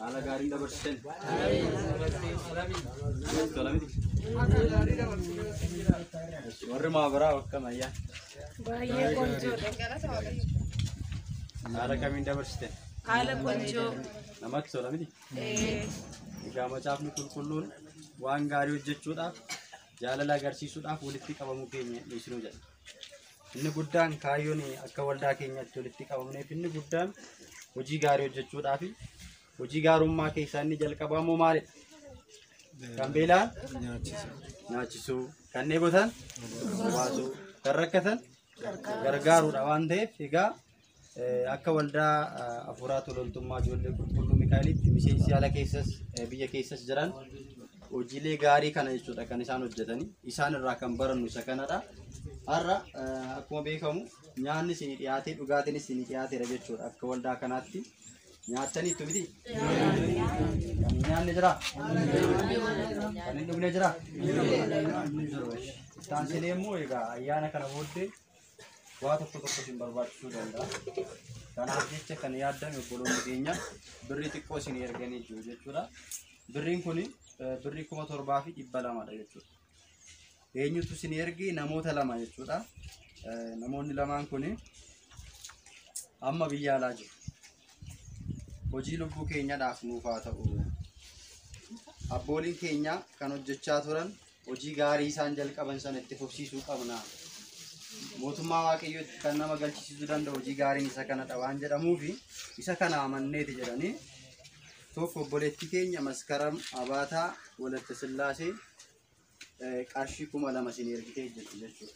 Haala gaariin dabarsitan. Warri maabaraa akkam ayyaa. Baay'ee qonjoodha. Haala kamiin dabarsitan? Haala qonjoo. Namatti tola miti? Egaa macaafni qulqulluun waan gaarii hojjechuudhaaf jaalala agarsiisuudhaaf walitti qabamuu keenya dhiisnuu jedha. Inni guddaan kaayyoon akka waldaa keenyaatti walitti qabamneef inni guddaan hojii gaarii hojjechuudhaa fi hojii gaarummaa keessaa inni jalqabaa immoo maalidha? Kan beelaan nyaachisuu, kan dheebotan baasuu, kan rakkatan gargaaruudha waan ta'eef egaa Akka waldaa afuuraa tololtummaa ijoollee qulqulluu Mikaa'elitti miseensi ala keessas biyya keessas jiran hojiilee gaarii kana jechuudha kan isaan hojjetani. Isaan irraa kan barannu isa kanadha. Har'a akkuma beekamu nyaanni isinii dhiyaatee dhugaatiin isinii dhiyaateera jechuudha akka waldaa kanaatti. Nyaattanii itti miti? Kan hin nyaanne jira? Kan hin dhugne jira? Hin jiru. Itti aansinee immoo egaa ayyaana kana booddee waa tokko tokko isin barbaachisuu danda'a. Kanaaf jecha kan yaaddame obboloonni keenya birrii xiqqoo isin erganii jiru jechuudha. Birriin kun birrii kuma torbaa fi dhibba lamadha jechuudha. Eenyutu isin erge namoota lama jechuudha. Eh, Namoonni lamaan kun amma biyya alaa jiru. Hojii lubbuu keenyadhaaf nuuf haa ta'u. Abbooliin keenya kan hojjechaa turan Hojii gaarii isaan jalqaban sana itti fufsiisuu qabna. Mootummaa Waaqayyootti kan nama galchisiisuu danda'u hojii gaariin isa kanadha waan jedhamuufi isa kana amanneeti jedhanii tokko obboleettii keenya maskaram abaataa walatta sillaasee eh, qarshii kuma lama isin ergitee jirti jechuudha.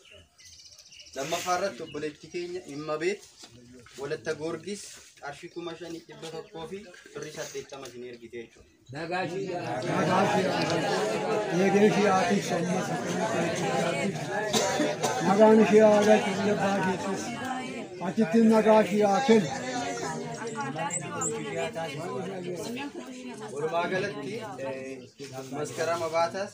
lammaffaa irratti obboleetti keenya dhimma beet walatta goorgis qarshii kuma shanii dhibba tokkoo fi birrii saddeettama isin ergite jechuudha. Eegee ishee haa tiksu ammas akkana ta'etti jiraatti. Nagaan ishee haa galchu biyya abbaa keessas. Achitti nagaa ishee haa kennu. Walumaa galatti eh, maskarama baataas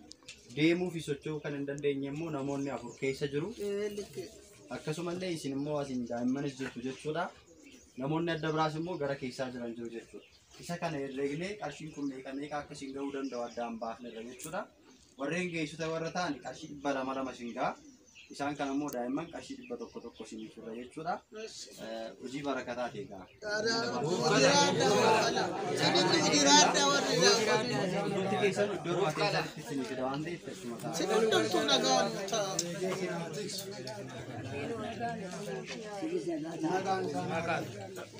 deemuu fi socho'uu kan hin dandeenye immoo namoonni afur keessa jiru. Akkasumallee isin immoo asiin daa'immanis jirtu jechuudha. Namoonni adda biraas immoo gara keessaa jiran jiru jechuudha. Isa kana herreegnee qarshiin kun meeqa meeqa akka isin ga'uu danda'u addaan baafnerra jechuudha. Warreen geessota warra ta'an qarshii dhibba lama lama isin ga'a. Isaan kana immoo daa'imman qarshii dhibba tokko tokko isinii fidna jechuudha. Eh, Hojii barakataa ta'e egaa. Hundumti keessan iddoo irraa keessatti isinii fida waan ta'eef teessuma taa'aa. Nagaan isaa.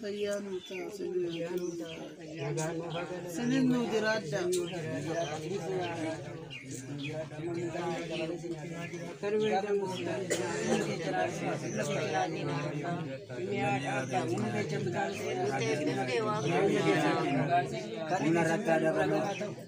Fayyaa nuu ta'a. Sinin nuu jiraadha. Kan inni irratti adabamu.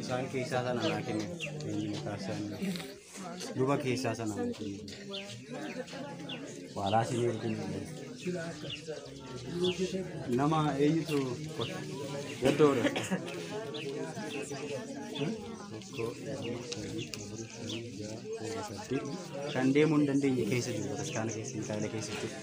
Isaan keessaa sana naa kenne. Duba keessaa sana naa kenne. Waalaa si beekin. Nama eenyutu gaddoodha. Tokko, lama, sadii, afur, shan, ja'a, kudha, saddeet. Kan deemuu hin dandeenye keessa jiru bataskaana keessa hin taane keessa jiru.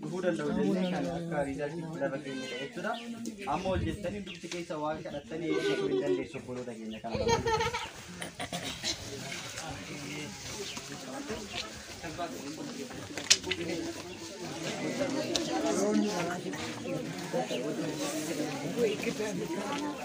dhufuu danda'u jennee kan akka riizaltii itti lafa keenyedha jechuudha. Amma hojjettanii dubbi keessa waa kadhattanii eebbisuu hin dandeessu obboloota keenya kana.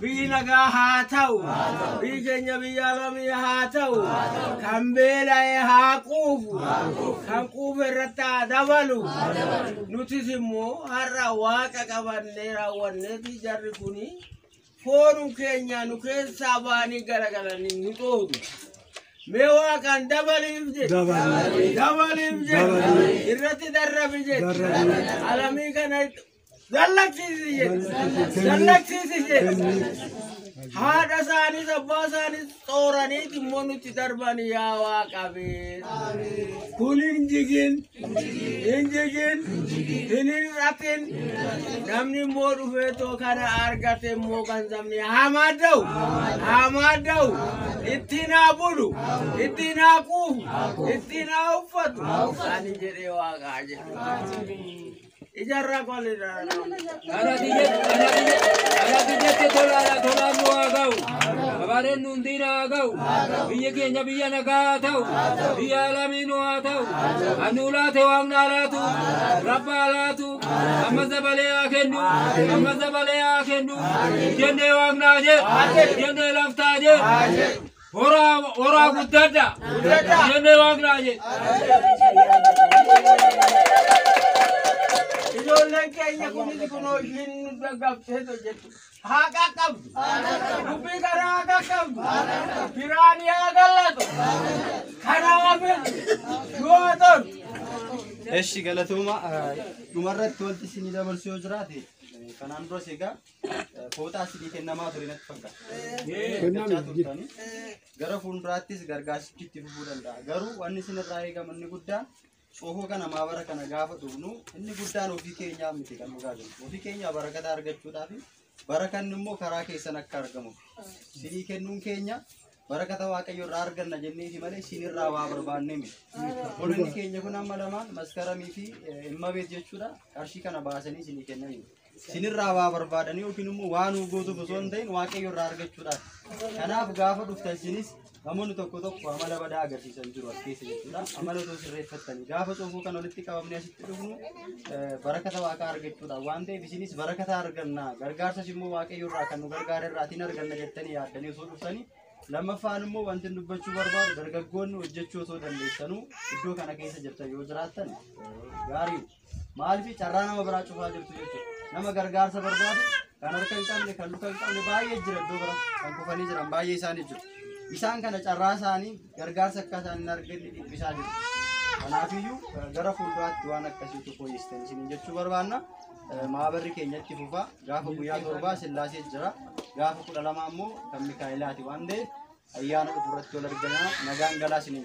Biyyi nagaa haa ta'u. Biyyi keenya biyya alamii haa ta'u. Kan beela'e haa quufu. Kan quufe irratti haa dabalu. Nutis immoo har'a waaqa qabannee raawwanneeti jarri kuni foonum keenya nu keessaa ba'anii garagalanii nu dhoodu. Mee waaqaan dabaliif jedhe. Dabaliif jedhe. Irratti darrabi jedhe. Alamii kana Dallaksiisi jedhe. Dallaksiisi jedhe. Haadha isaaniis abbaa isaaniis xooranii immoo nutti darban yaa waaqabee. Kun hin jigin, hin jigin, hin hir'atin. Namni immoo dhufee too kana argate immoo kan sabni hamaa da'u, hamaa da'u. Ittiin haa bulu, ittiin haa quufu, ittiin haa uffatu. Ani jedhee waaqaa jedhe. Ijaarraa koo ni Ana biyyatti ana biyya ana biyyatti tolaadha tolaan nu haa ga'u. Abaareen nu hundiina haa ga'u. Biyyi keenya biyya nagaa haa ta'u. Biyya alamii nu haa ta'u. Annu laate waaqni haa laatu. Rabba haa laatu. Amma dabalee haa kennu. Amma dabalee haa kennu. Jennee waaqni haa jedhu. Jennee lafti haa jedhu. Horaa horaa guddadha. Guddadha. Jennee waan biraa jedhe. Ijoolleen keenya kunis kunoo ishiin nu gaggabsee hojjetu. Haa qaqqabdu. Dubbii kana haa qaqqabdu. Biraan yaa gallatu. Kanaafis yoo ta'u. Eshi galatooma dhumarratti wanti isin dabarsu yoo jiraate kanaan duras egaa Kootaa sidii kennamaa ture natti fakkaata. Eeggachaa turtanii gara fuulduraattis gargaarsichi itti fufuu danda'a. Garuu wanni isin irraa eegamu inni guddaan coofoo kana maabara kana gaafa dhugnu inni guddaan ofii keenyaa miti kan dhugaa jiru. Ofii keenyaa barakata argachuudhaaf barakanni immoo karaa keessan akka argamu. Sidii kennuun keenya barakata waaqayyo irraa arganna jenneeti malee isin irraa waa barbaannee miti. Obboloonni keenya kun amma lamaan maskaramii fi immabeet jechuudha qarshii kana baasanii isinii kennaniiru. Sinirraa waa barbaadanii yookiin immoo waa nuu gootuuf osoo hin ta'in waaqayyo irraa argachuudhaaf. Kanaaf gaafa dhuftan sinis namoonni tokko tokko amala badaa agarsiisan jiru as keessa jechuudha. Amala osoo sirreeffattanii gaafa soofuu kan walitti qabamne asitti dhufnu eh, barakata waaqaa argachuudhaaf waan ta'eef isinis barakata arganna gargaarsas immoo waaqayyo irraa kan nu gargaara irraatiin arganna jettanii yaaddanii osoo dhuftanii lammaffaan immoo wanti inni dubbachuu barbaadu dargaggoonni hojjechuu osoo dandeessanuu iddoo kana keessa jirtan yoo jiraattan eh, gaariidha. Maaliif carraa nama biraa cufaa jirtu jechuudha. Nama gargaarsa barbaadu kan harka hin qabne, kan luka hin qabne baay'ee jira iddoo bira kan kufanii jiran baay'ee isaanii jiru. Isaan kana carraa isaanii gargaarsa akka isaan hin arganne dhiphisaa jiru. Kanaafiyyuu eh, gara fuulduraatti waan akkasiitu fooyyestan isin jechuu barbaanna. Eh, Maabarri keenya itti fufa. Gaafa guyyaa torbaa sillaasee jira. Gaafa kudha lama ammoo kan Mikaa'elaati waan ta'eef ayyaana dhufu irratti wal argina nagaan galaa isiniin